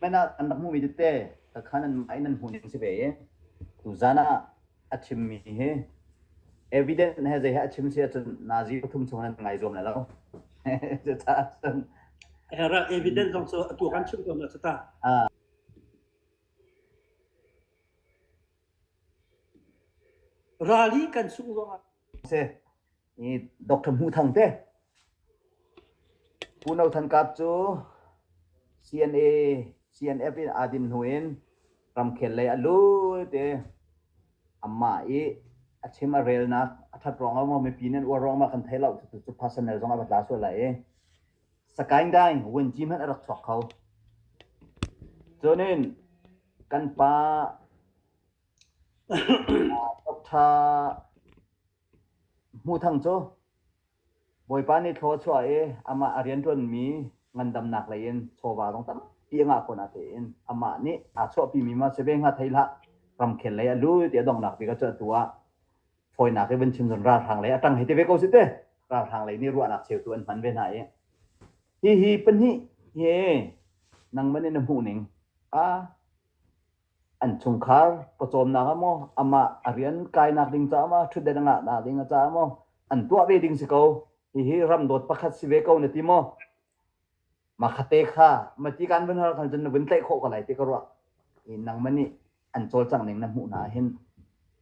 Hmanh ah kan rak hmuhmi tete kakhan an mah in an hmuh ning si ve i tuzan ah a chimmi hi evidence he zei he a chim si ahcun nazi pathum chung nan ngai zuam lai lo cucaah cun Era evidence zong cu atu kan chim tawn cu ta. Ah, Rally kan sung zong ah si Dr. Hmuh Thang te. Unau Than Kap cu CNA CNF in aa dim hnu in ramkhel lei a lut i amah i a chim a relnak a that ruang ah mipi nan uar ruang ah kan thei lo cu personnel zong a va tla sual lai i sakaing daing wen ji hmanh a rak chuak kho cunin kan pa Dr. Hmuthang cu Bawipa nih thlaw a chuah i amah a rianṭuanmi ngandamnak lei in chawva zong tampi a ngah khawh na tein amah nih aa chuahpimi ma si ve hnga thei hlah, ramkhel lei a lut i a donghnak bik cu atu ah fawinak i vun chim cun ralhrang lei a ṭang hei ti ve ko sih teh. Ralhrang lei nih ruahnak cheutu an hman ve hna i hihi pahnih hi nangman in na hmuh ning a an chungkhar pawcawmnak ah maw amah a rian kainak ding caah maw ṭhutdet a ngahnak ding caah maw an tuah ve ding si ko hihi ramdawt pakhat si ve ko na ti maw ma khate kha ma ti kan vun har khan cun na vun tlaih khawh ko lai ti ka ruah i nang ma nih an cawlcang ning na hmuh hna hin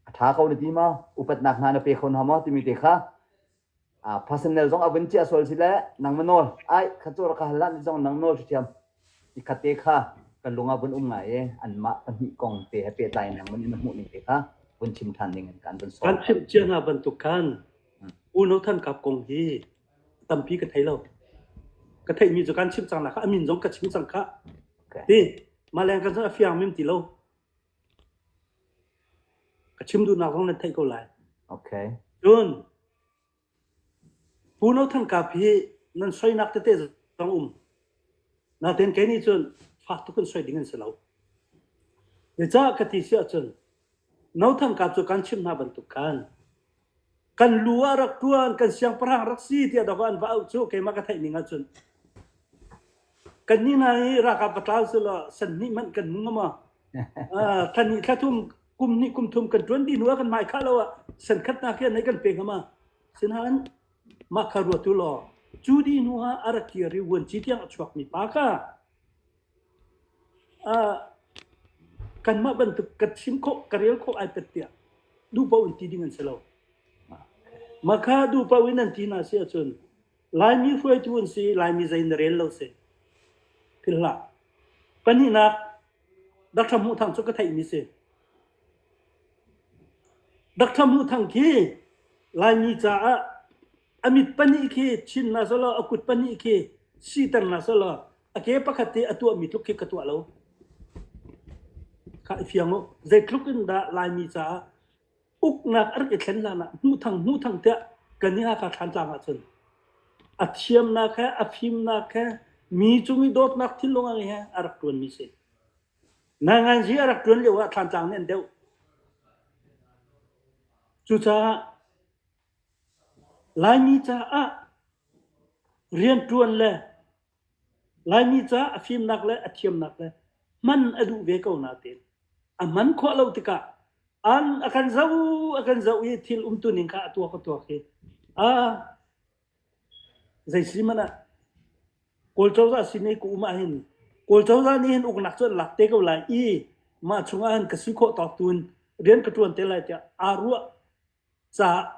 a ṭha ko na ti maw upatnak hna na pe kho hna maw timi te kha Personnel zong a vun chiah sual si le nang ma nawl ai kha cawr ka hal ni zong nang nawl ṭhiṭhiam i kha te kha ka lung ah vun um ngai i anmah pahnih kong te he pehtlai in nang man na hmuh ning te kha vun chim ṭhan ding in kan vun sawm. Kan chimh cia hna bantuk khan Unau Than Kap kong hi tampi ka thei lo. Ka theihmi cu kan chim cang hna kha a min zong ka chim cang kha. Ti, mah leng kan a fiang mim ti lo. A chim duhnak zong nan theih ko lai. Okay. Cun Pu No Thang Kap hi nan soinak tete zong um. Natein kei nih cun fak tuk in soi ding an si lo. Zeicah ka ti si ahcun No Thang Kap cu kan chimh hna bantuk khan kan lu ah rak ṭuan, kan siangpahrang rak si tiah dok ah an va auh cu keimah ka theih ning ahcun. Kannih hna hi ralkap patlau cu law san hnih hmanh kan hmu ngam uh, thla hnih thla thum kum hnih kum thum kan ṭuan dih hnu ah kan mai khah lo ah san khatnak hi anei kan pe ngam a sinain mah kha ruatu law cu dih hnu ah a rak kir i vuanci tiang a chuak mi pa ka kanmah bantuk ka thim khawh, ka rel khawh ai pat tiah duhpoh in ti ding an si lo. Maka duhpoh in an ti hna si ahcun Laimi hruaitu an si i Laimi zei na rel lo si ti hlah. Pahnihnak, Dr. Hmuh Thang cu ka theihmi si. Dr. Hmuh Thang khi Laimi caah a mit pahnih khi chinnak selaw a kut pahnih khi siternak selaw a ke pakhat te a tuahmi tluk khi ka tuah lo kha i fiang u zeitluk in dah laimi caah uknak a rak i thlen hlan ah hmuh thang hmuh thang tiah kan i haka thlan tlang ahcun a thiamnak he a fimnak he mi cung i dawtnak thinlung he a rak ṭuan mi si nangan ji a rak ṭuan lio ah thlan tlang nih an deuh cucaah Laimi caah rianṭuan le Laimi caah a fimnak le a thiamnak le hman a duh ve ko nain a hman khawh lo tikah an a kan zoh a kan zoh i thil umtuning kha a tuak a tuak i aa zei si hmanh ah Kawl cozah sin i ka um ahhin Kawl cozah nih hin uknak cu an lak te ko lai i mah chungah hin ka si khawh tawk tu in rian ka ṭuan te lai tiah aa ruah. caah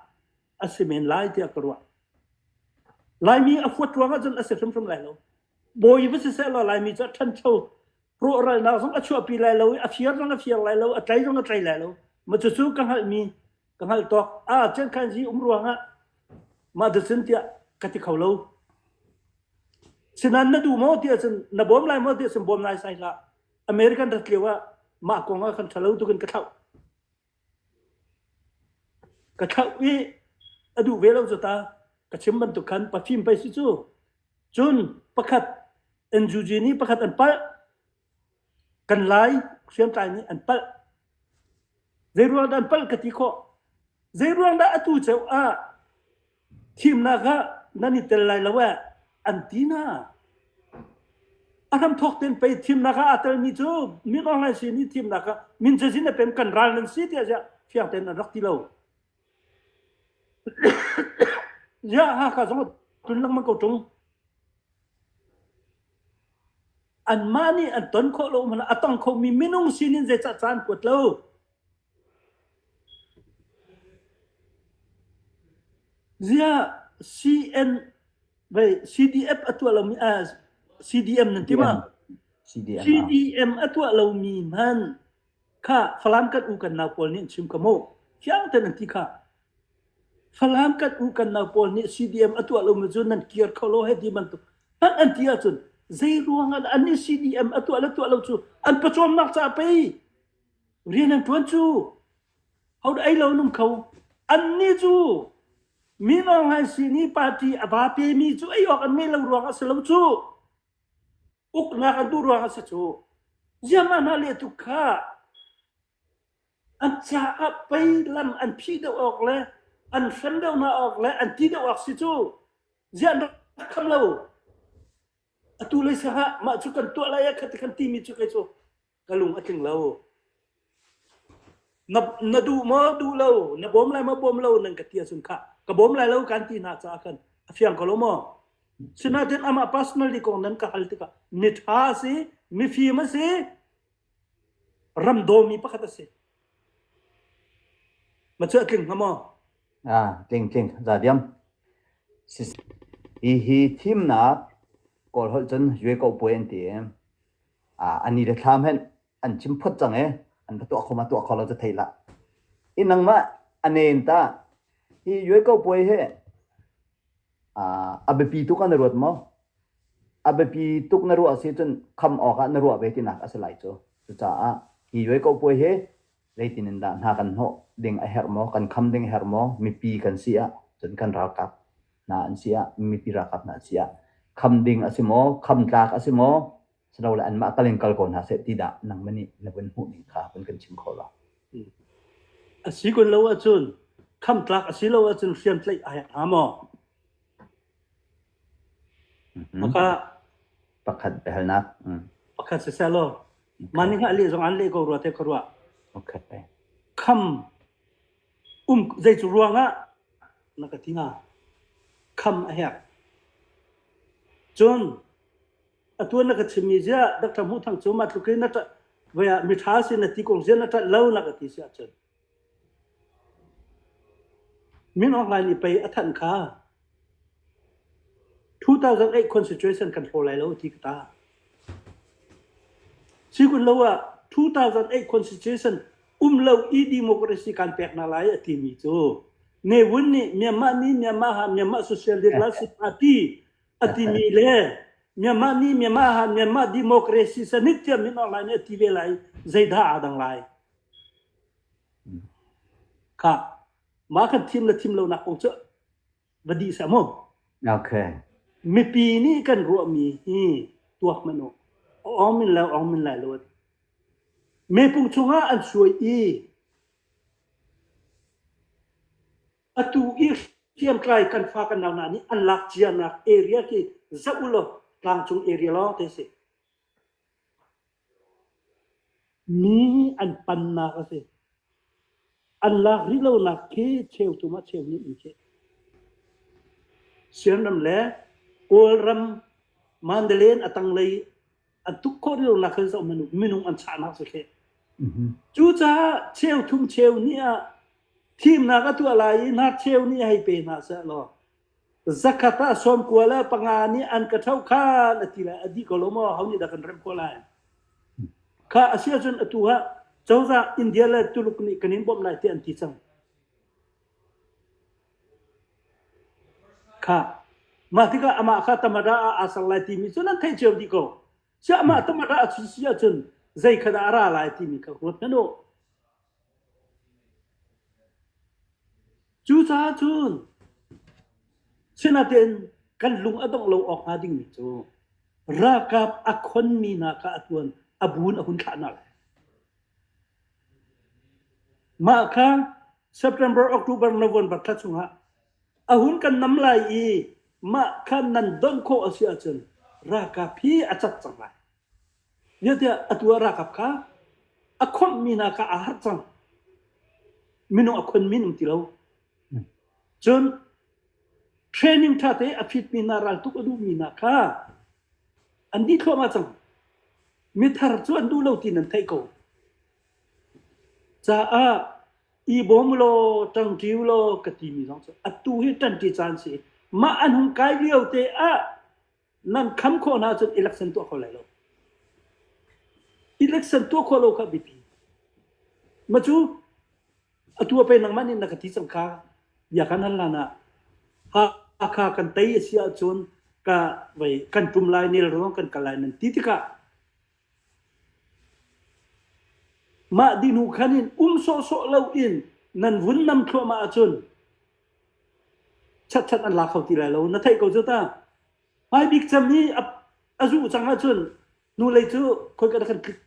a si men lai tiah ka ruah. Laimi a huat ruang ahcun a si hrimhrim lai lo. Bawi va si seh law Laimi cu a ṭhancho rawhralnak zong a chuahpi lai lo i a fir zong a fir lai lo a tlai zong a tlai lai lo ma cucu ka hngalhmi ka hngalh tawk a chen khan ji um ruangah ma da cun tiah ka ti kho lo sinan na du maw ti ahcun na bawm lai maw ti ahcun bawm lai sai hlah American rat lio ah mah kong ah kan ṭhalo tukin ka thlauh Ka thlauh i a duh ve lo cu ta. Ka chim bantuk khan Parfum pei si cu. Cun pakhat NUG nih pakhat an palh. Kan lai hriamtlai nih an palh. Zeiruang dah an palh ka ti khawh? Zeiruang dah atu ceu ah Thimnak ah nan i tel lai lo ee, an ti hna. A hramthawk tein pei thimnak ah aa telmi cu min online sin i thimnak ah min cazin a pem kan ral nan si tiah ziah fiang tein an rak ti lo. ziah Hakha zong a tlun lengmang ko ṭung. Anmah nih an ton khawh lo hmanhah a tong khomi minung sin in zeicah caan kuat lo? Ziah CDM a tuah lomi CDM nan ti maw? CDM a tuah lomi hmanh kha Falam kan u kan nau pawl nih an chim ka mu. Fiang tein an ti kha. Falam kan u kan nau pawl nih CDM a tuah lomi cu nan kir kho lo hei ti bantuk. Hmanh an ti ahcun zei ruangah dah an nih CDM a tuah le tuah lo cu an pawcawmnak caah pei Rian an ṭuan cu ho ei lo nung kho. Annih cu mi ngawng an si i party a va pemi cu ei awk an ngeih lo ruang a si lo cu uknak an duh ruang a si cu. Ziahmah hna le tu kha an caah pei lam an phi deuh awk le an hrem deuh hna awk le an ti deuh awk si cu ziah an rak kham lo. Atu lei sangah mah cu kan tuah lai ah kha ti khan timi cu kei cu ka lung a tling lo. Na, na duh maw duh lo na bawm lai maw bawm lo nan ka ti ahcun kha ka bawm lai lo kan ti hna caah khan a fiang ko lo maw sinain amah personally kong nan ka hal tikah mi ṭha a si mifim a si ram dawmi pakhat a si ma cu a tling hnga maw ah tling tling za diam hi hi thimnak kawl holh cun yue ko puai an ti a ni le thlam hen an chim phot cang e an ka tuah kho ma tuah kho lo ca thei la in nang mah anen ta hi yue ko puai he a biapi tuk na ruat mo a biapi tuk na ruah si cun kham awk ah na ruah ve tinak a si lai cu cucaah hi yue ko puai he zeitin in dah hna kan hnawh ding a herh maw, kan kham ding a herh maw, mipi kan si ah cun kan ralkap hna an si ah, mipi ralkap hna an si ah, kham ding a si maw, kham tlak a si maw, si lo le anmah kal in kal ko hna seh ti dah nang manih na vun hmuh ning kha vun kan chim kho la. A si kun lo ahcun, kham tlak a si lo ahcun hriamtlaih a herh hnga maw? Pakhat biahalnak. Pakhat siseh law mah nih hngah leh zong aan leh ko rua teh ka ruah. Okay. Kham um zei cu ruangah na ka ti hnga? Kham a herh. Cun atu na ka chimmi ziah Dr. Hmuh Thang cu mah tluk in na ṭah mi ṭha si na ti kong ziah na ṭah lo na ka ti si ahcun Min Aung Hlaing nih pei a thanh kha two thousand eight constitution kan hlaw lai lo ti ka tah. Si kun lo ah two thousand eight constitution um lo i democracy kan pek na lai a timi cu ne wun nih Myanmar mi Myanmar ha Myanmar Socialist Party a timi le Myanmar mi Myanmar ha Myanmar democracy sanit tia Min Aung Hlaing nih a ti ve lai zeidah aa dang lai. Ka mahkan thim le thim lonak kong cu va dih seh maw. Okay. Mipi nih kan ruahmi hi tuak hmanh u. Awng min lai awng min lai lo. Mepung chungah an suai i atu i hriamtlai kan fa kan nau hna nih an lak cianak area khi za u law tlangcung area lawng te si. Ni hi an pannak a si. An lak rih lonak khi cheuthum ah cheu hnih an si. Sianram le Kawlram Mandalay a tanglei a tuk khawh rih lonak khan zoh minung, minung an chahnak si khi. Cucaah cheu thum cheu ni ah thimnak a tuah lai i nar cheu ni hei pe hna seh law Zakhat ah sawmkua le panga nih an ka ṭhoh khan a ti lai. A dih ko lo maw? Ho nih dah kan remh khawh lai? Khah, a si ahcun atu ah cozah India le Tuluk nih kan in bawmh lai tiah an ti cang. Khah, mah tikah amah kha Tamara ah aa ser lai timi cu nan theih cio dih ko. Siah, amah Tamara a si ahcun zeikhat ah a ra lai timi kha ruat hmanh u. Cucaah cun sinain kan lung a dongh lo awk hnga dingmi cu ralkap a khonmi hna kha a tuan a buun a hun thlahnak a si. Mah kha September, October, November thla chungah a hun kan nam lai i mah kha nan donh khawh a si ahcun ralkap hi a cat cang lai. Niah tiah atu ah ralkap kha a khawmhmi hna kha aa harh cang. Minung a khonmi an um ti lo. Cun training ṭha te a phitmi hna raltuk a duhmi hna kha an dih thluahmah cang. Mithar cu an duh lo tiin an theih ko. Caah i bawm ulaw ṭangṭi ulaw ka timi zong cu atu hi ṭanṭi caan a si. Mah an hung kai lio te ah nan kham khawh na cun election tuah kho lai lo election tuah kho lo kha biapi ma cu atu pe nang man in na ka ti chang kha ya kan hal na ha kha kan tai asi a chun ka vai kan tum lai nel ro kan kalai nan ti tika ma dinu khanin um so so lo in nan vun nam thlo ma a chun Chatchat an la kho ti lai lo. Na theih ko cu ta. Hmai bik cem hi a, a zuh cang ahcun nu lei cu khoika dah kan klik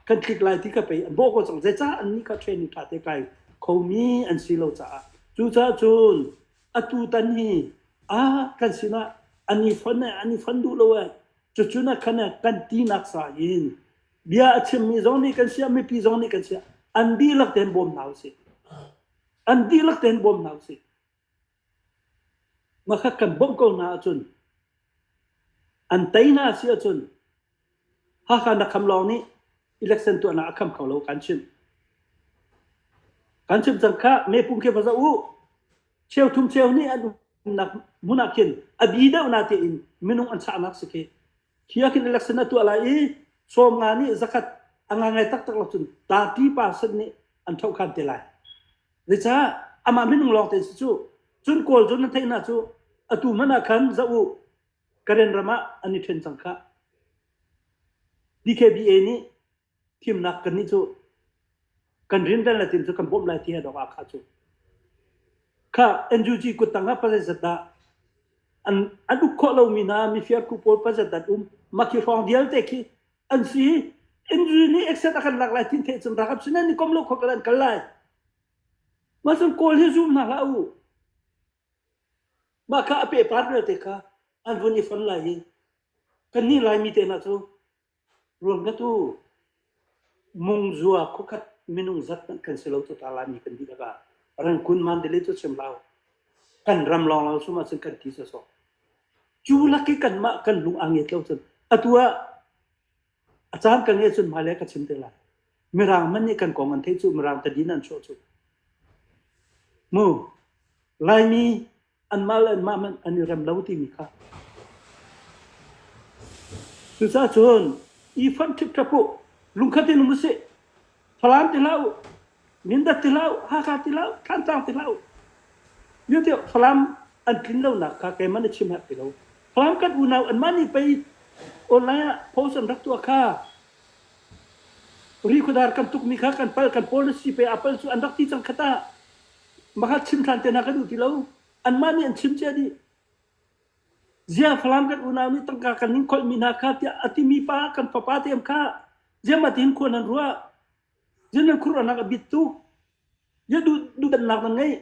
kan klik lai ti ka pei an bawh ko cang. Zeicah annih ka training ṭha te kai khomi an si lo caah. Cucaah cun atutan hi ah kan sinah an i fonh ee, an i fonh duh lo ee. Cucun ah khan eh kan tinak sa in Bia a chimmi zong nih kan siah, mipi zong nih kan siah, an dihlak tein bawm hna usih. An dihlak tein bawm hna usih. Ngakhat kan bawmh ko hna ahcun, an tei hna si ahcun, Hakha na kham lawng nih election tuahnak a kham kho lo kan chimh. Kan chimh cang kha, mepum khi va zoh u. Cheu thum cheu nih an umnak hmun ah khin a bi deuh na tiin minung an chahnak si khi Khi ah khin election a tuah lai i sawmnga nih zakhat a ngangai taktak lo cun thirty percent nih an thohkhan te lai. Zeicah amah minung lawng tein si cu cun Kawl cu na theihna cu atu hmanh ah khan za u Karen ram ah an i ṭhen cang khah. DKBA nih Thimnak kannih cu kan rinrel le tin cu kan bawmh lai ti he dawk ah kha cu kha NUG kuttang ah pasai zat dah an an uk khawh lomi hna mifir khu pawl pasat dat um maki hrawng dialte khi an si NUG nih exet a kan lak lai tin thei cun rakap sinen ni kom lo kho kan kal lai ma sun kawl hi zoom na la u ma kha a pe par te kha an vun i fon lai hi kan ni lai mi te na cu Ruamdat u, mungzua khuakhat minung zat hmanh kan si lo cu ta Laimi kan dihlak ah. Rangkun mandalay cu chim hlah u. Kan ram lawnglawng sum ahcun kan ti sawsawh. Cu lak i kanmah kan lung a ngiat lo cun atu ah a caan ka ngiat cun hmailei ka chim te lai. Mirang man nih kan kong an theih cu, Mirang tadin an chuah cu. Mu, Laimi anmah le anmah hmanh an i rem lo timi kha. Cucaah cun i fonh ṭhipṭap u, lungkhat in um u sih. Falam ti hlah u, Mindat ti hlah u, Hakha ti hlah u, Thlantlang ti hlah u. Nih ti Falam an tlin lonak kha keimah nih chim hak ti lo. Falam kan unau anmah nih pei online ah post an rak tuah kha ri khuadar kan tukmi kha kan pal kan pawl na si pei a pal cu an rak ti cang kha ta. Maka chim ṭhan te hna kan duh ti lo. Anmah nih an chim cia dih. Zia Falam kan unau nih tangka kan in kholhmi hna kha tiah a timi pa kan fapa te am kha ziamah tiin khuan an ruah. Zian nan khurhnak a bit tuk. Zia duh duhdannak nan ngei.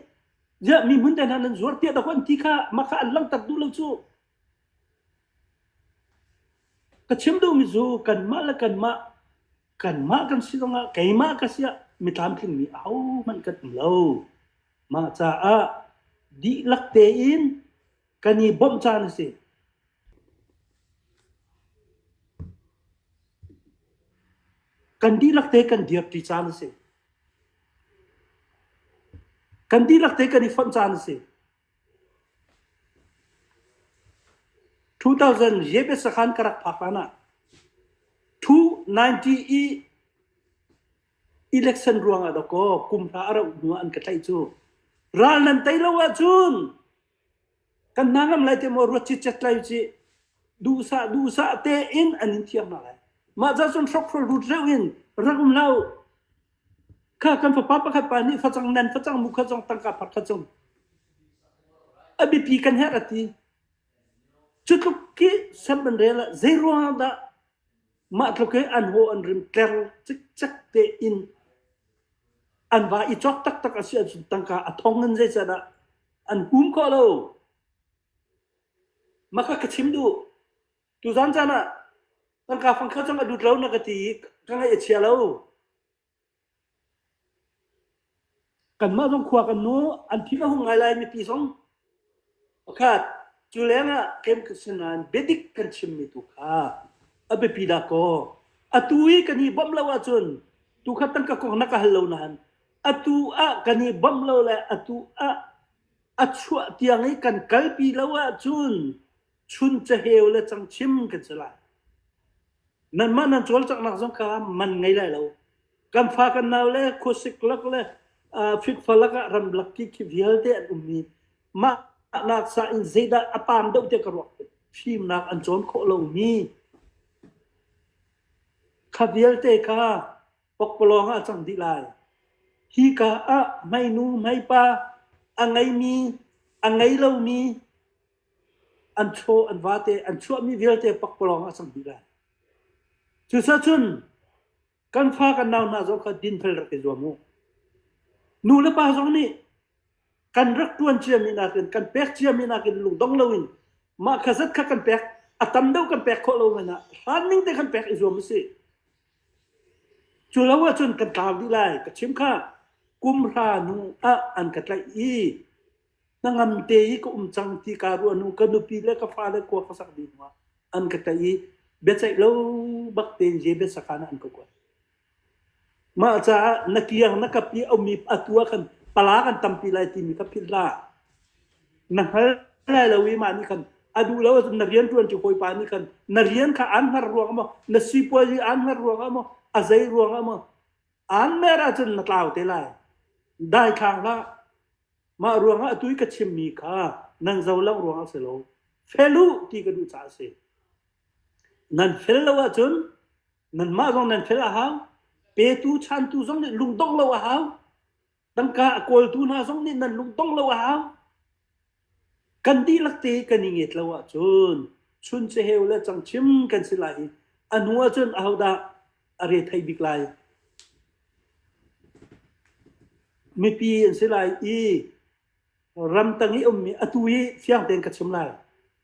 Zia mi hmun te hna nan zuar tiah dah an ti kha maka an langhter duh lo cu. Ka chim duhmi cu kanmah le kanmah Kanmah kan si zongah keimah ka si ah mitlamtlingmi ahohmanh kan um lo. Mah caah dihlak tein kan i bawmh caan a si. Kan dihlak te kan dirṭi caan a si. Kan dihlak te kan i fonh caan a si. 2000 Yebes sakhan ka rak phak hlan ah 290 i election ruangah dawkaw kum hra a rauh hnu ah an ka tlaih cu ral nan tei lo ahcun kan hna ngam lai te maw ruat citcet lai cih duhsah duhsah tein an in thiam hna lai mah cah cun hrokhrol rut reuh in rak um hlah uh Kha kan fapa pakhat pa nih facang nen, facang mu khat zong tangka phak khat zong a biapi kan herh a ti. Cutluk khi sem an rel ah zeiruang ah dah mah tluk i an haw an rim tler cikcek tein an va i cawk taktak a si ahcun tangka a thong in zeiset ah an hum khawh lo. Maka ka chim duh. Tuzan caan ah tangka fangkhat cang a dut lo na ka ti i ka ngaih a chia lo. Kanmah zong khua kan nu an thi a hung ngai lai mipi zong pakhat cu leng ah kem nain bedik kan chimmi tu kha a biapi da kaw atu i kan i bawmh lo ahcun tu kha tangka kong na ka hal lo nain atu ah kan i bawmh lo le atu ah a chuah tiang i kan kalpi lo ahcun chun caheu le changchim kan si lai. Nanmah nan cawlcanghnak zong kha man ngei lai lo. Kan fa kan nau le khusik lak le fitfa lak ah ramlak ki khi vialte an ummi mah nak sa in zeidah a pam deuh te ka ruak fimnak an cawn khawh lomi kha vialte kha pokpalawng ah cang dih lai hi ka ah mai nu mai pa a ngeimi a ngei lomi an chaw an vate an chuahmi vialte pakpalawng a cang dih lai. Cucacun kan fa kan nau hna zong kha dinfel rak i zuam u. Nu le pa zong nih kan rak ṭuan ciami nakin, kan pek ciami nakin lungdong loin mah kha zat kha kan pek, a tam deuh kan pek khawh lo men ah hlan ning te kan pek i zuam u sih. Cu lo ahcun kan tlau dih lai. Ka chim kha, kumhra nu ah an ka tlaih i hnangam te i ka um cang ti kaa ruah hnu ka nupi le ka fale kua ka sak dih hnuah an ka tlaih i biaceih lo bak tein je biasakan an ka kuat mah caah na kiang na kap i aumi atu ah kan pala kan tampi lai timi ka philh hlah na hngal lai lo i mah nih khan a duh lo na rian tuan cu hawipa nih khan na rian kha aan hngar ruang maw na sipuazi aan hngar ruang maw a zei ruang maw aan mer ahcun na tlau te lai dai khang hlah Mah ruangah atu i ka chimmi kha nan zo lo ruangah a si lo. Fel u ti ka duh caah a si. Nan fel lo ahcun nanmah zong nan fel a hau. Petu chantu zong nih lungdong lo a hau. Tangka a kawltu hna zong nih nan lungdong lo a hau. Kan dihlak te kan i nget lo ahcun chun ceheu le changchim kan si lai i a hnu ahcun ahodah a re thei bik lai mipi an si lai i ramtang i ummi atu hi fiang tein ka chim lai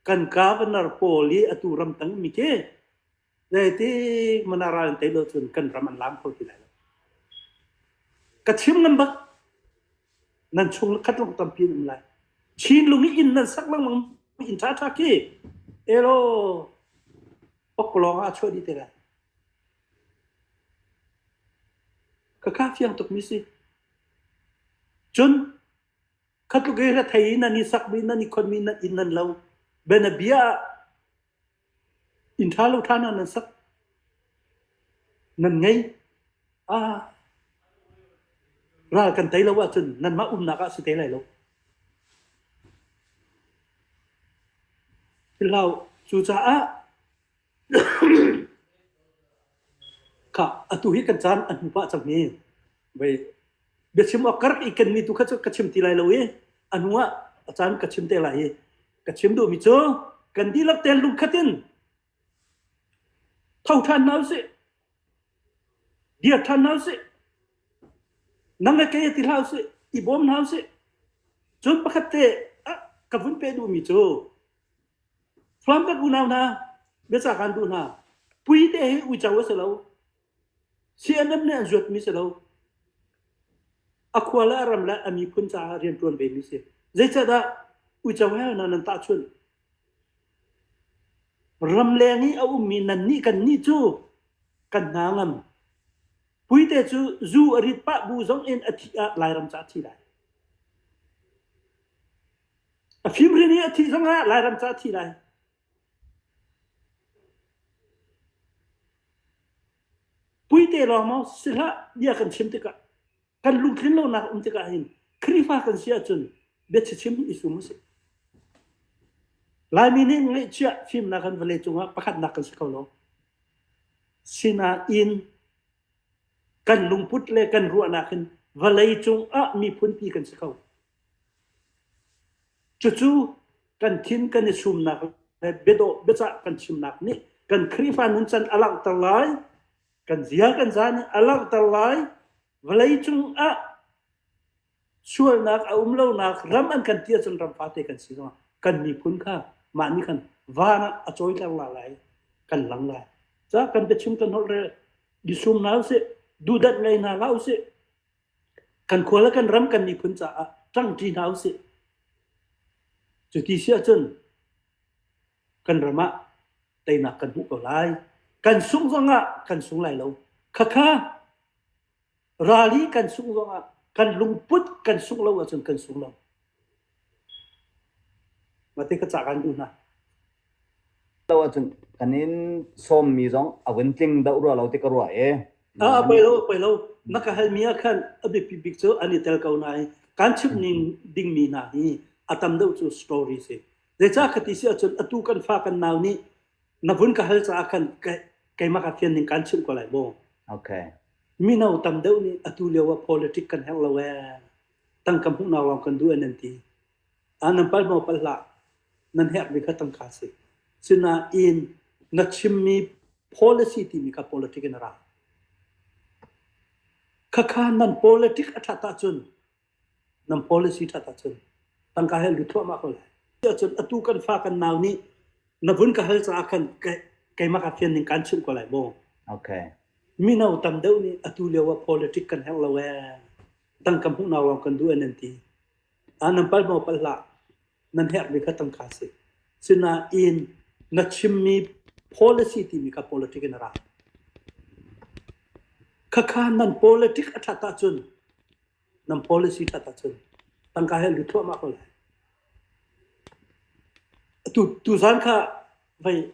kan governor pawl i atu ramtang mi khi zeitik mana ral an tei lo cun kan ram an lam kho ti lai lo ka chim ngam bak nan chung khat long tampi um lai chin lung in nan sak lang lang in tha tha ki elo Awk lawng ah a chuah dih te lai. Ka ka fiang tuk mi si. Cun khatluk e la thei in nan i sak mi nan i khon mi nan in nan lo bena bia in tha lo tha na nan sak nan ngei ah ral kan tei lo ahcun nanmah umnak ah si te lai lo. Thilhlau cucaah kha atu hi kan caan an hmu pah cang hi vei biachim awk kark i kenmi tu kha cu ka chim ti lai lo i a hnu ah a caan ka chim te lai i ka chim duhmi cu kan dihlak ten lungkhatin Tho ṭhan hna usih. Dir ṭhan hna usih. Nang le kei ti hlah usih. I bawm hna usih. Cun pakhat te ah ka vun peh duhmi cu thluan kan unau hna, biaca kan duh hna. Pui te hi uico a si lo. Sii-anam nih a zuatmi si lo, a khua le a ram le a miphun caah rianṭuan vemi si. Zeicahdah uicohel hna nan tah chunh? Ramleng i a ummi nannih kannih cu kan hna ngam. Puite cu zu a rit pah bu zong in a thih ah Lairam ca a thi lai. A fimrin i a thih zong ah Lairam ca a thi lai. Pui te lawngmang si hlah bia kan chim tikah, kan lungtlin lonak um tikah hin Khrihfa kan si ahcun biachim i sum usih. Laimi nih ngeihchiah fimnak kan vale cungah pakhatnak kan si ko lo. Sinain kan lungput le kan ruahnak hin vawlei cungah miphunpi kan si ko. Cucu kan thin kan i sumnak le biadawh biacah kan chimnak nih kan Khrihfa nuncan a langhter lai. Kan zia kan za nih a langhter lai. Vawleicung ah sualnak a um lonak ram an kan ti ahcun ram fate kan si zong ah kan miphun kha mah nih khan van ah a cawiter la lai, kan lang lai. Ca kan biachim kan holh rel, i sum hna usih, duhdanh ngei hna hlah usih. Kan khua le kan ram kan miphun caah ṭang ṭi hna usih. Cu ti si ahcun kan ram ah teinak kan hmuh ko lai. Kan sungh zongah kan sung lai lo. Khakha rali kan sungh zongah kan lungput kan sungh lo ahcun kan sung lo. Mah tikha cah kan duh hna. Lo ahcun kan in sawmmi zong a vun tling doh rua lo ti ka ruah i. Ah poi lo poi lo. Na ka halmi ah khan a biapi bik cu an i tel ko nain kan chimh ning dingmi hna hi a tam deuh cu story si. Zeicah ka ti si ahcun atu kan fa kan nau nih na vun ka hal caah khan keimah ka fian ning kan chimh ko lai maw? Okay. Mino tam deuh nih atu lio ah politic kan herh lo ee. tangka hmuhnak lawng kan duh an an ti ah nan pal maw pal hlah nan herhmi kha tangka si sinain na chimmi policy timi kha politic in a ra khakha nan politic a that ahcun nan policy that ahcun tangka hel lut thluahmah ko lai ahcun atu kan fa kan nau nih na vun ka hal caah khan keimah ka fian ning kan chimh ko lai maw okay mino tam deuh nih atu lio ah politic kan herh lo ee Tangka hmuh hna lawng kan duh an ti. Ah, nan pal maw pal hlah. Nan herhmi kha tangka si. Sinain na chimmi policy timi kha politic in a ra. Khakha nan politic a that ahcun nan policy that ahcun tangka he lu thuahmah ko lai. Tu tuzan kha vai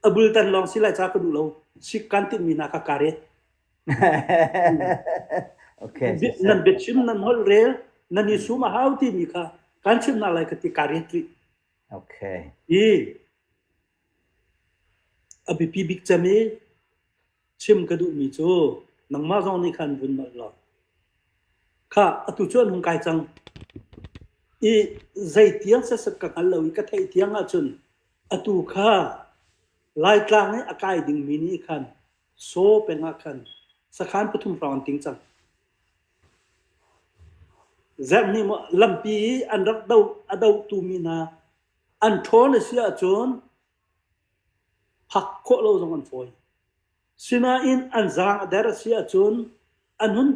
abul tan long silai cha ka du lo si kan tin mi na ka kare Okay. Bi- nan biachim nan holh rel nan i sum a hau timi kha kan chim hna lai ka ti ka ret rih Okay. i a biapi bik cem i chim ka duhmi cu nangmah zong nih khan vun nolh law kha atu cu an hung kai cang i zei tiang sesat ka hngal lo i ka theih tiang ahcun atu kha laitlang i a kai dingmi nih khan Saw peng ah khan sakhan pathum hrawng an ting cang. Zerh nih maw lampi i an rak do a dotu mi hna an ṭhawn a si ahcun phak khawh lo zong an fawi. Sinain an zaang a der a si ahcun an hun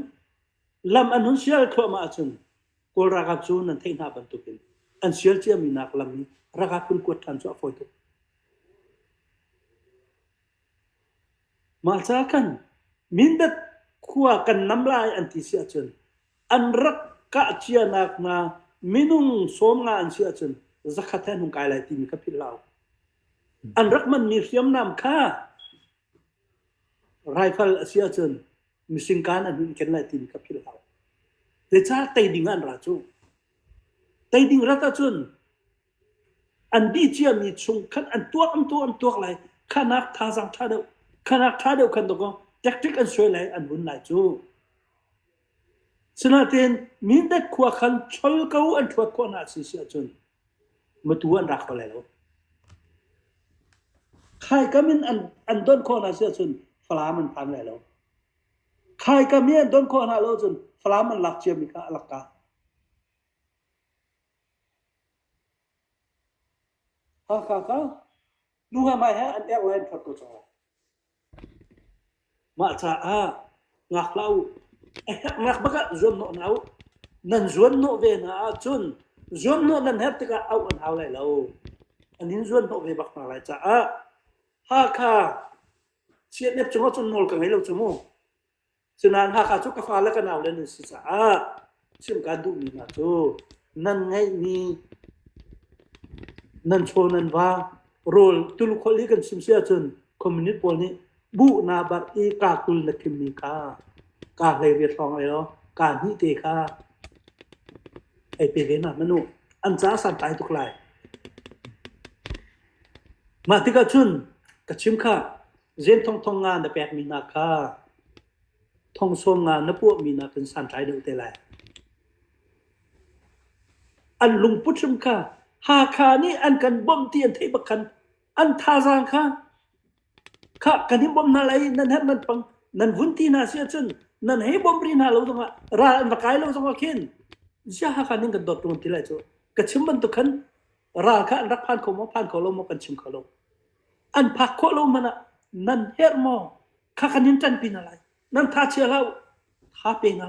lam an hun sial thluahmah ahcun Kawl ralkap cu nan theih hna bantukin an sial ciami nak lam i ralkap kun kuat ṭhan cu a fawi tuk. Mahca khan Mindat khua kan nam lai an ti si ahcun an rak kah cianak hna minung sawm nga an si ahcun zakhat he an hung kai lai timi kha philhhlau. An rak manmi hriamnam kha rifle a si ahcun misingkan an hun ken lai timi kha philhhlau. Zeicah tei ding ah an ra cu? Tei ding rat ahcun An dih ciami chung khan an tuak an tuak an tuak lai khanak thazaang ṭha deuh khanak ṭha deuh khan dong tactic an suai lai an vun lai cu sinain mindat khua khan chol ko an thuat khawh hna si si ahcun matu an rak kho lai lo khai kamin an an don khawh hna si ahcun falam an phan lai lo khai kami an don khawh hna lo cun falam an lak ciami kha a lak ka Haka ka nu he mai he an ek lai an phot ko cang lai. Mah caah ngak hlah u. Ngak bak ah zuam hnawh na u. Nan zuan hnawh ve na ahcun zuam hnawh nan herh tikah auh an hau lai lo. An in zuan hnawh ve bak hna lai caah Hakha CNF cungah cun nawl ka ngei lo cu mu. Cunak Hakha cu ka fale ka naule nan si caah chim kaan duhmi hna cu nan ngeihmi nan chaw nan va rawl tulukholh i kan chim si ahcun community pawl nih buh na barh i kaa kul na thimmi kha kaa hleiriat hrawng ai law kaa hnih te kha ei pe ve hna manu an caah santlai tuk lai. Mah tikah cun ka chim khah Zen thong thong nga na pekmi hna kha thong sawm nga na puahmi hna kan santlai deuh te lai. An lungput hrim kha Hakha nih an kan bawmh ti an theih bakhan an thazaang kha kha kan hi bawm hna lai nan her nan pang nan vun ti hna si ahcun nan hei bawm ri hna lo zongah ral an va kai lo zongah khin zia hakha ning kan dawt tuan ti lai cu ka chim bantuk khan ral kha an rak phan kho maw phan kho lo maw kan chim kho lo an phak khawh lo hmanh ah nan herh maw kha kan in ṭanpi hna lai nan thachia hlah u tha pe hna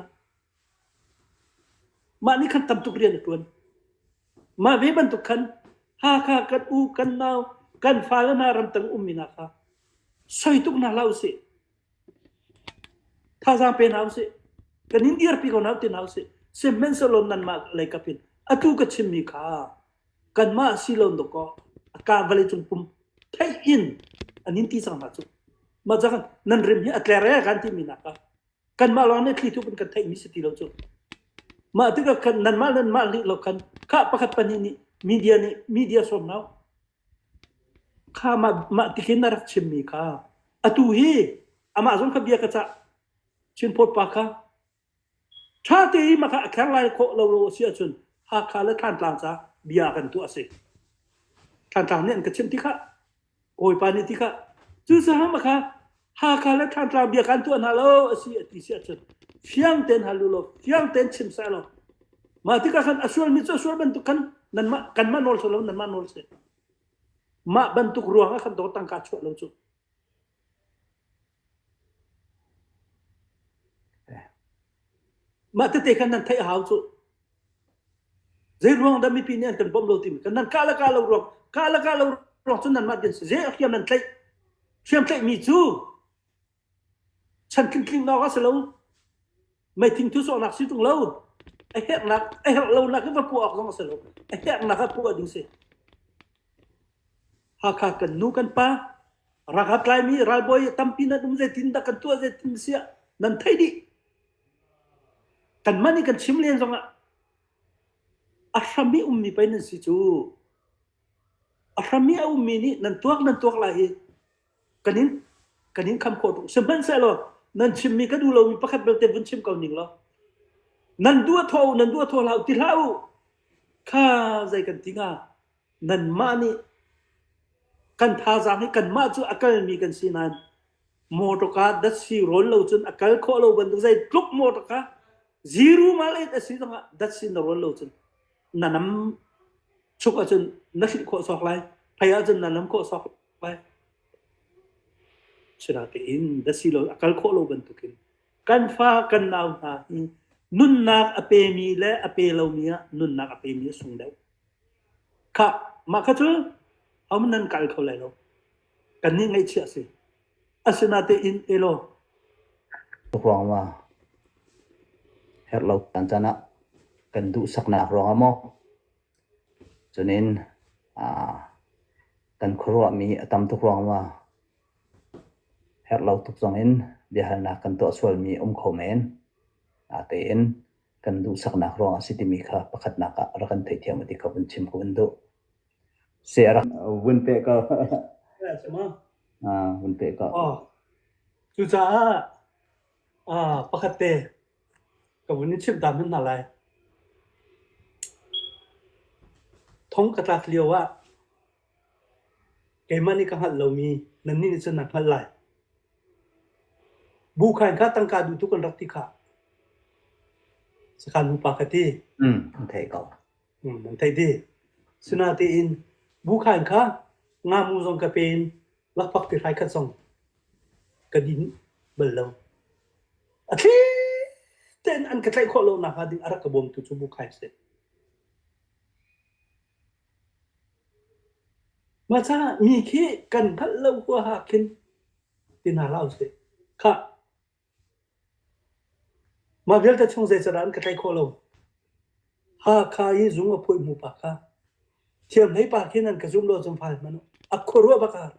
mah nih khan tam tuk rian a ṭuan mah ve bantuk khan Hakha kan u kan nau kan fale hna ramtang ummi hna kha soi tuk hna hlah usih thazaang pe hna usih kan in dirpi ko hna usih sihmanhsehlaw nanmah leikap in atu ka chimmi kha kanmah si lo dawk kaw a ka vawleicung pum theih in an in ti cang hna cu mah cang nan rim hi a tler e kan ti mi nak ka kanmah lawng nih thli thup in kan theih mi si ti lo cu mah tikah khan nanmah le mah lih lo khan kha pakhat pahnih nih media nih media sawm lo kha mah mah tikin a rak chim mi kha atu hi amah zong kha bia ka cah chin phot pa kha Ṭha tein maka a kher lai khawh lo a si ahcun Hakha le Thantlang ca bia kan tuah a si. Thantlang nih an ka chimh tikah, Kawipa nih tikah, cucaah maka Hakha le Thantlang bia kan tuah hna lo a si a ti si ahcun fiang tein hal u law fiang tein chim seh law mah tikah khan a sualmi cu a sual bantuk khan nanmah kanmah nawl seh law nanmah nawl seh. Mah bantuk ruangah khan dawr tangka chuah lo cu Mah tete khan nan theih a hau cu. Zei ruang dah mipi nih an kan bawmh lo timi kan nan kah le kah lo ruang kah le kah lo ruang cu nan mah din si je hriam nan tlaih hriam tlaih mi cu chan tling tling nawk a si lo Meithing thusawhnak si tung lo. A herhnak a herh lonak hi va puh awk zong a si lo. A herhnak a puh ding si. Hakha kan nu kan pa ranghat laimi ralbawi tampi nan um zeitin dah kan tuah zeitin siah nan thei dih kan man i kan chim len zong ah a hram i ummi pei nan si cu a hram i a ummi nih nan tuak nan tuak lai hi kan in kan in kham khawh tuk sihmanhsehlaw nan chimmi ka duh lomi pakhat belte vun chim ko ning law nan duah thaw u nan duah thaw hlah u ti hlah u kha zei kan ti hnga nanmah nih kan thazaang hi kanmah cu a kalmi kan si nain motor ka dat si rawl lo cun a kal khawh lo bantuk zei tluk motor ka ziru mal et a si zongah dat si na rawl lo cun na nam chuk ahcun na hrilh khawh sawk lai phei ahcun na nam khawh sawk Asinain a kal khawh lo bantukin kan fa kan nau hna hi nunnak a pemi le a pe lomi ah nunnak a pemi a sung deuh. Kha mah kha cu am nan kal kho lai lo. Kan nih ngaihchih a si. Asinain elo ruang ma herh lo tan canah kan duh saknak ruang ah maw Cun in aa kan khuaruahmi a tam tuk ruangah herhlo tuk zongin biahalnak kan tuah sualmi a um kho men. Tein kan duhsaknak ruang a si timi kha pakhatnak ah rak kan theihthiam a ti kha vun chim ku in duh. Si a rak vun peh ko. Vun peh ko. Cucaah pakhatte Ka vun i chimh ta hmanh hna lai. Thong ka tlak lio ah keimah nih ka hngalh lomi nannih nih cun nan hngalh lai. Bu kha in kha tangka duhtu kan rak ti khah. Sakhan nupa ka ti. Mm, an theih ko. Hmm, an theih ti. Sinatein bu kha in kha ngamu zong ka pe in Lakpak ti hrai khat zong ka din bal lo. A thli tein an ka tlaih khawh lo nakhnga ding a rak ka bawmtu cu Bu Khai a si. Maca mi khi kan hngalh lo huaha khin tina hlah usih. Kha Mah vialte chung zeicadah an ka tlaih khawh lo. Hakha i zung a phawih hnu pa kha thiamhlei pa khi nan ka zum law cun fai hmanh u. A khuaruah bak ah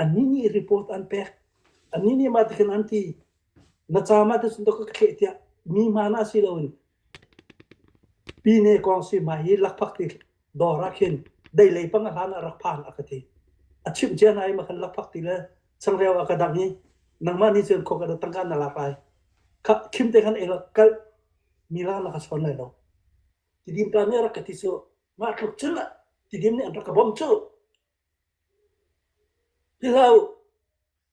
annih nih report an pek. Annih nih mah ti khin an ti. Na ca mah te cun ka thleh tiah mi hmaan ah si loin Pi nih Kawngsi hmai hi lakphak ti dawr ah khin dei lei pang a hlan ah rak phan a ka ti. A chimh cia hna i ma khan lakphak ti le changreu a ka dang i nangmah nih cun khawk na tangka na lak lai. Kha khim te khan ei law kalh mi lak na ka sawn lai lo. Tidim ta nih a rak ka ti cu, mah tluk cun ah tidim nih an rak ka bawmh cuh. Ti hlah u.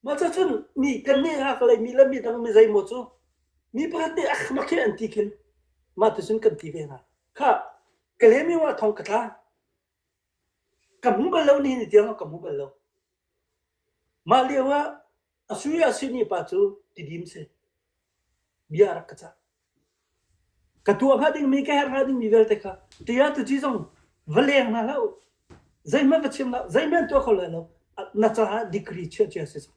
Mah cucun mi kannih ah ka laihmi le midang mi zeimaw cu mi pakhat nih a khamak hi an ti khin mah ticun kan ti ve hna. Kha ka lemi wah thawng ka tla. Ka hmu bal lo nihin ni tiang ah ka hmu bal lo. Mah lio ah A sui ah sihni pa cu tidim si. Bia a rak ka cah. Ka tuah hnga dingmi, ka herh hnga dingmi vialte kha tia tuci zong va leng hna hlah u. Zeihmanh va chim hlah, zeihmanh tuah kho lai lo. Na caah degree chia chia si cang.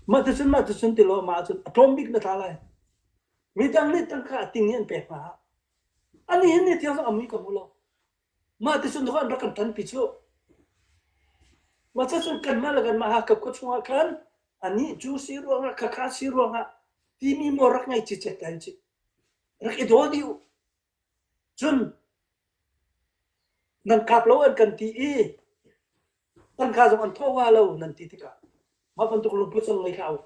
Mah tu cun mah tu cun tilaw mah cun a tlawm bik na tla lai. Midang nih tangka a ting i an pek hna. Ani hin ni thiang zong a mui ka mu lo. Mah ti cun an rak kan tan pi cu. Mah cacun kanmah le kanmah Hakap khua chungah khan anih cu si ruangah khakha si ruangah timi maw rak ngei cicet ta ci. Rak i dawl dih u. Cun nan kap lo an kan ti i tangka zong an thawh wa lo nan ti tikah mah bantuk lungput zong ngei hlah u.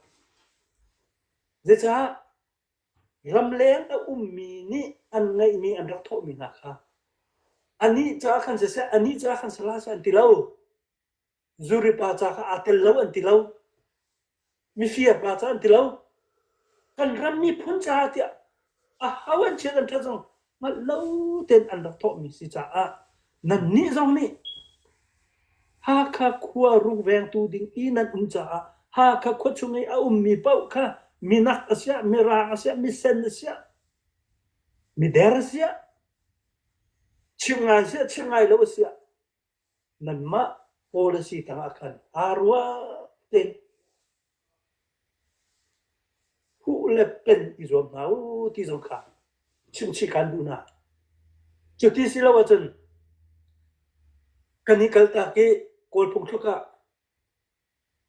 Zeicah Ramleng a ummi nih an ngeihmi an rak thawhmi hna kha anih caah khan siseh, anih caah khan salah seh an ti lo. Zuripa ca kha aa tel lo an ti lo. Mifirpa ca an ti lo. Kan ram miphun caah tiah a ho an chiat an ṭhat zong hngalh lo tein an rak thawhmi si caah nannih zong nih Hakha khua rukvengtu ding i nan um caah Hakha khua chung i a ummi paoh kha minak a siah mirang a siah misen a siah mider a siah chim ngai siah chim ngai lo a siah Nanmah policy tangah khan aa ruah tein huh le pen i zuam hna u ti zong kha chimchih kan duh hna. Cuti si lo ahcun kan i kaltak i Kawl phungthluk ah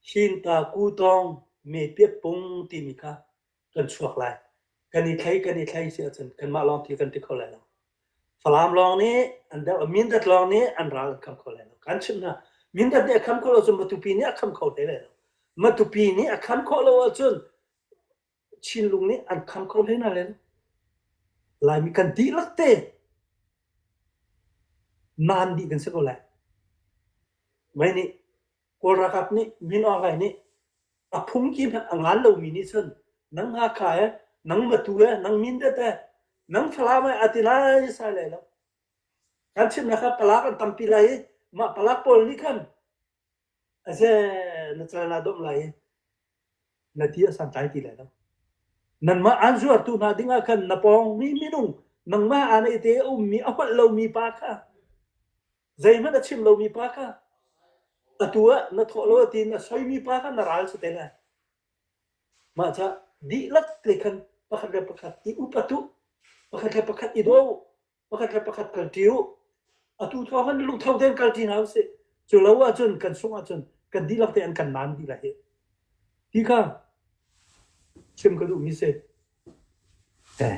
Hinta Ku Tawng Me Pet Pung timi kha kan chuak lai kan i thlei kan i thlei si ahcun kanmah lawng ti kan ti kho lai lo falam lawng nih an der mindat lawng nih an ral an kham kho lai lo kan chim na mindat nih a kham kho lo cun matupi nih a kham kho hlei lai lo matupi nih a kham kho lo ahcun Chinlung nih an kham kho hlei na len laimi kan dihlak te nan dih kan si ko lai mei nih Kawl ralkap nih Min Aung Hlaing nih a phungki hmanh a ngan lomi nih cun nang Hakha he nang Matu he nang Mindat he nang Falam he a ti lai sai lai lo kan chimnak kha palak an tampi lai i mah palak pawl nih khan a ze na cal na dawm lai i na ti a santlai ti lai lo nanmah an zuartu hna dingah khan na pawngmi minung nangmah an i te ummi a holh lomi pa kha Zeihmanh a chim lomi pa kha atu ah na thawh lo tiin a soimi pa kha na ral cu te lai. Mah ca dihlak te khan pakhat le pakhat i upat u. Pakhat le pakhat i do u. Pakhat le pakhat kalṭi u. Atu thawngin lungtho tein kalṭi hna u sih. Cu lo ahcun kan sungh ahcun kan dihlak tein kan nan dihlak hi. Ti kha chim ka duhmi si. Eh.